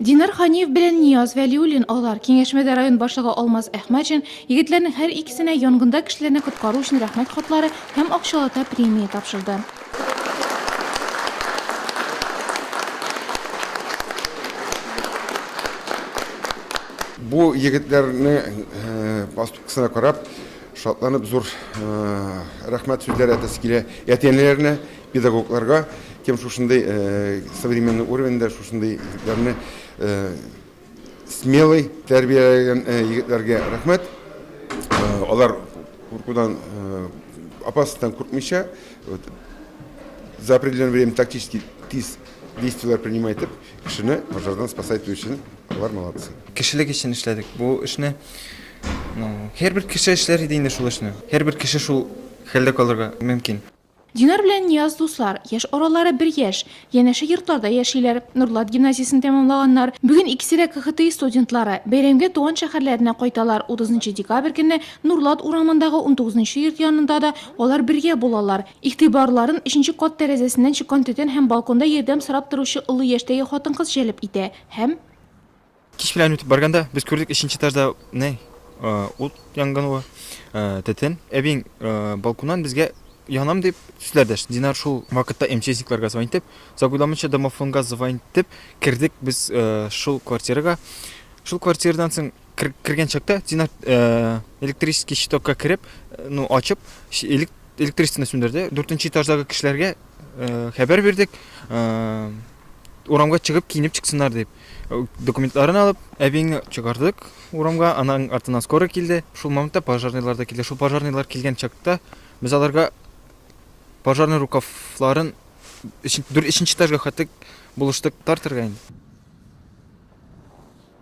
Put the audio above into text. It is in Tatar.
Динар Ханиев белән Нияз Вәлиуллин алар. Киңәшмәдә район башлыгы Алмаз Әхмәтшин егетләрнең һәр икесенә янгында кешеләрне коткару өчен рәхмәт хатлары һәм акчалата премия тапшырды. Бу егетләрне поступкасына карап, шатланып зур рәхмәт сүзләре әйтәсе килә әти-әниләренә. Педагогларга кем шушындый современный уровеньда шушындый егетләрне смелый тәрбияләгән егетләргә рәхмәт. Алар куркудан опасностьтан куркмыйча за определенное время тактически тиз действиеләр принимай итеп, кешене пожардан спасай итү өчен алар молодцы. Кешелек өчен эшләдек бу эшне. Ну, һәрбер кеше эшләр иде инде шул эшне. Һәрбер кеше шул хәлдә калырга мөмкин. Динар белән Нияз дуслар, яшь аралары бер яшь. Янәшә йортларда яшиләр. Нурлат гимназиясен тәмамлаганнар. Бүген икесе дә КХТИ студентлары. Бәйрәмгә туган шәһәрләренә кайталар. Утызынчы декабрь көне Нурлат урамындагы унтугызынчы йорт янында да алар бергә булалар. Игътибарларын өченче кат тәрәзәсеннән чыккан төтен һәм балконда ярдәм сорап торучы олы яшьтәге хатын-кыз җәлеп итә һәм. Кичкелән үтеп барганда без күрдек өченче этажда не ут янганы, төтен. Әбиң балконнан безгә янам дип сүзләр дәште. Динар шул вакытта МЧСникларга звонить итеп, загуйламыйча домофонга звонить итеп кердек без шул квартирага. Шул квартирадан соң кергән чакта Динар электрический щитокка кереп, ну ачып, электричествоны сүндерде. Дүртенче этаждагы кешеләргә хәбәр бирдек, урамга чыгып киенеп чыксыннар дип. Документларын алып, әбиеңне чыгардык урамга, аның артына скоры килде. Шул моментта пожарныйлар да килде. Шул пожарныйлар килгән чакта без аларга пожарный рукавларын өченче этажга хәтлек булыштык тартырга инде.